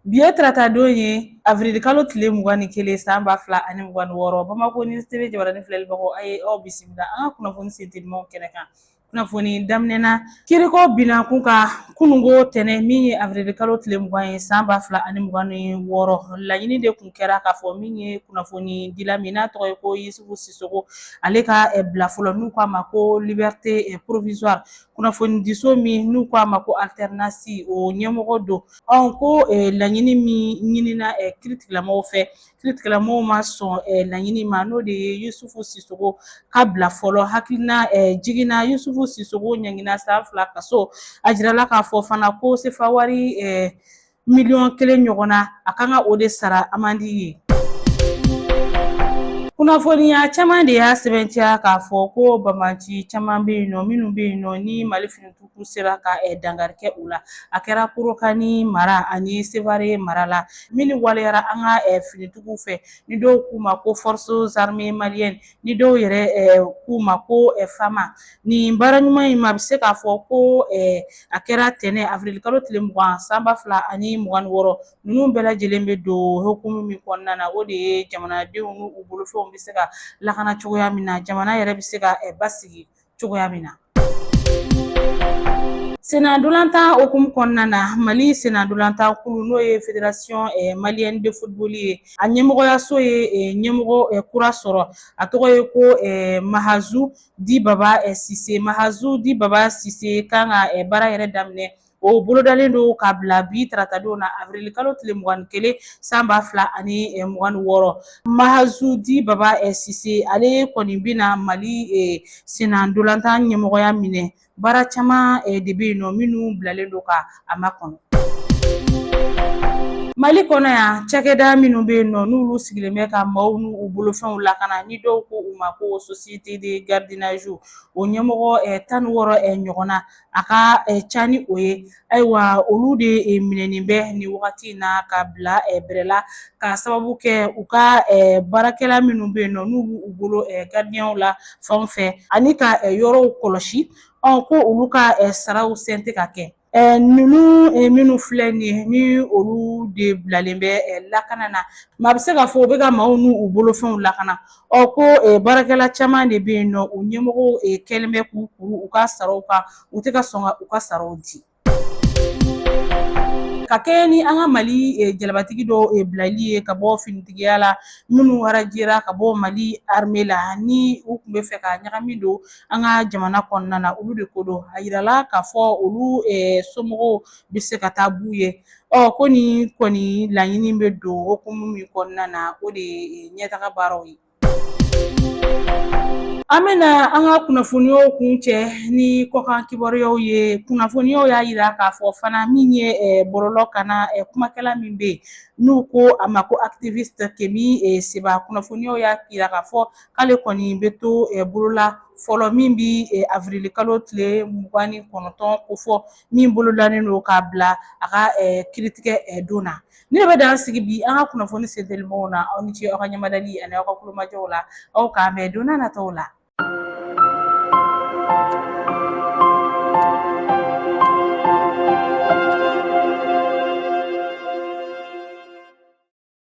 Bi ye taratadon ye avril kalo tile mugan ni kelen san ba fila ani mugan ni wɔɔrɔ bamakɔ ni TV jabaranin filɛlibagaw a ye aw bisimila an ka kunnafoni sentelimaw kɛnɛ kan kunnafoni daminɛna kiriko binankun ka kununko tɛnɛ min ye avril kalo tile mugan ye san ba fila ani mugan ni wɔɔrɔ laɲini de tun kɛra k'a fɔ min ye kunnafonidila min n'a tɔgɔ ye ko yisufu sisogo ale ka bila fɔlɔ n'u k'a ma ko liberté provisoire kunnafonidiso min n'u k'a ma ko alternance o ɲɛmɔgɔ don ɔn ko eh, laɲini min ɲinina eh, kiiritigɛlamɔgɔw fɛ kiiritigɛlamɔgɔw ma sɔn eh, laɲini ma n'o de ye yusufu sisogo ka bila fɔlɔ hakilinajigin na yusufu sisogo ɲangina san fila kaso a jirala k'a fɔ fana ko sefawari miliyɔn kelen ɲɔgɔn na a kan ka o de sara amandi ye kunnafoniya caman de y'a sɛbɛntiya k'a fɔ ko banbaanci caman bɛ yen nɔ minnu bɛ yen nɔ ni mali finitigiw sera ka eh, dankari kɛ u la a kɛra kolokani mara ani sevare mara la minnu waleyara an ka eh, finitigiw fɛ ni dɔw k'u ma ko forces armées maliennes ni dɔw yɛrɛ k'u ma ko FAMa nin baara ɲuman in maa bɛ se k'a fɔ ko a kɛra tɛnɛn avril kalo tile mugan san ba fila ani mugan ni wɔɔrɔ ninnu bɛɛ lajɛlen bɛ don hukumu min kɔnɔna na o de ye jamanadenw n'u bolofɛnw bɛ se ka lakana cogoya min na jamana yɛrɛ bɛ se ka basigi cogoya min na. Sennantolatan hukumu kɔnɔna na mali sennantolatan kulu n'o ye fédération eh, malienne de football ye a ɲɛmɔgɔyaso ye eh, ɲɛmɔgɔ eh, kura sɔrɔ a tɔgɔ ye ko mahazu dit baba sise mahazu dit baba sise kan ka baara yɛrɛ daminɛ O bolodalen don ka bila bi taratadon na avril kalo tile mugan ni kelen san ba fila ani eh, mugan ni wɔɔrɔ mahazu dit baba eh, sise ale kɔni bɛna mali eh, sennantolatan ɲɛmɔgɔya minɛ baara caman de bɛ yen nɔ minnu bilalen don ka a makɔnɔ mali kɔnɔ yan cakɛda minnu bɛ yen nɔ n'olu sigilen bɛ ka maaw n'u u bolofɛnw lakana ni dɔw ko u ma ko société de gardiennage o ɲɛmɔgɔ eh, tan ni wɔɔrɔ eh, ɲɔgɔnna a ka ca ni o ye ayiwa olu de minɛnen bɛ nin wagati in na ka bila bɛrɛ la ka sababu kɛ u ka baarakɛla minnu bɛ yen nɔ n'u b'u bolo gardiɲɛw la fan fɛ ani ka yɔrɔw kɔlɔsi ko olu ka saraw sen tɛ ka kɛ ninnu minnu filɛ nin ye ni olu de bilalen bɛ lakana na maa bɛ se k'a fɔ u bɛ ka maaw n'u bolofɛnw lakana Ɔ ko e, baarakɛla caman de bɛ yen nɔ u ɲɛmɔgɔw e, kɛlen bɛ k'u kuru u ka saraw kan u tɛ ka sɔn ka u ka saraw di ka kɛɲɛ ni an ka mali e, jalabatigi dɔw e, bilali ye ka bɔ finitigiya la minnu arajera ka bɔ mali arme la ni u tun bɛ fɛ ka ɲagami don an ka jamana kɔnɔna na olu de ko don a yirala k'a fɔ olu e, somɔgɔw bɛ se ka taa b'u ye Ɔ ko nin kɔni laɲini bɛ don hukumu min kɔnɔna na o de ye eh, ɲɛtaga baaraw ye an bɛna an ka kunnafoniyaw kuncɛ ni kɔkan kibaruyaw ye kunnafoniyaw y'a yira k'a fɔ fana min ye eh, bɔlɔlɔkanna eh, kumakɛla min bɛ n'u ko a ma ko activiste Kemi eh, Seba kunnafoniyaw y'a yira k'a fɔ k'ale kɔni bɛ to bolola fɔlɔ min bi avrili kalo tile mugan ni kɔnɔntɔn ko fɔ min bolodalen don k'a bila a ka kiiritigɛ don na nin de bɛ dan sigi bi an ka kunnafoni sentelimanw na aw ni ce aw ka ɲɛmadali ani aw ka kulomajɔw la aw k'an bɛn don n'a nataw la